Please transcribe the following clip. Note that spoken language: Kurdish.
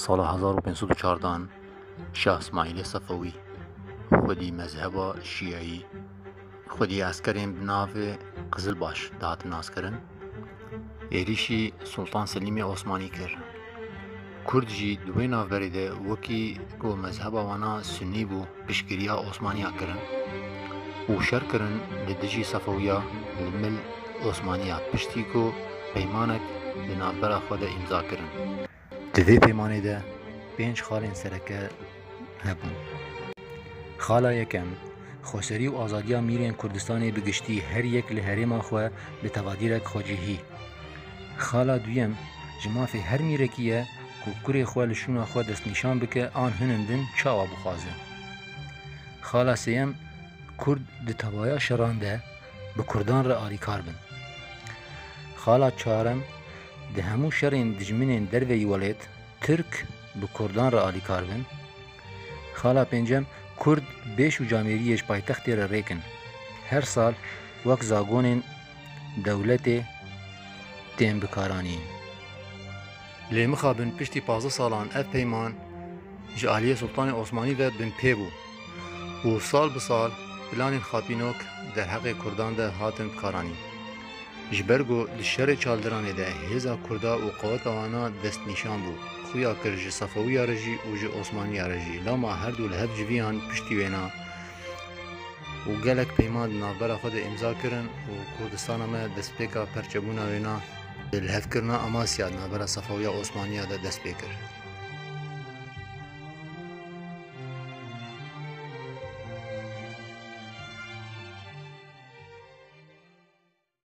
Sala hezar û pênc sed û çardan Şah Îsmaîlê Sefewî xwedî mezheba Şîyeyî xwedî eskerên bi navê Qizilbaş dihat naskirin êrîşî Sultan Selîmê Osmanî kir. Kurd jî di wê navberê de wekî ku mezheba wana Sunî bû Piştgiriya Osmaniya kirin û şer kirin li dijî Sefewiya li mil Osmaniya piştî ku peymanek di navbera xwe de îmza kirin. Di vê peymanê de pênc xalên sereke hebûn. Xala yekem, xweserî û azadiya mîrên Kurdistanê bi giştî her yek li herêma xwe bi tevadîrek xwecihî. Xala duyem, ji mafê her mîrekî ye, Ku kurê xwe li şûna xwe destnîşan bike an hinin din çawa bixwazin. Xala sêyem, Kurd di tevaya şeran de bi Kurdan re alîkar bin. Xala çarem, Di hemû şerên dijminên derveyî welêt Tirk bi Kurdan re alîkar bin. Xala pêncem, Kurd bêş û camêriyê ji paytextê re rêk in. Her sal wek zagonên dewletê tên bikaranîn. Lê mixabin piştî pazdeh salan ev peyman ji aliyê Sultanê Osmanî ve binpê bû û sal bi sal planên xapînok derheqê kurdan de hatin bikaranîn. Ji ber ku di şerê çaldiranê de hêza kurda û qeweta wan a destnîşan bû, xuya kir ji Sefewiya re jî û ji Osmaniya re jî lama herdu li hev civiyan piştî wêna û gelek peyman di navbera xwe de îmza kirin û Kurdistana me destpêka perçebûna wêna di lihevkirina Amasya di navbera Sefewiya Osmaniya de dest pê kir.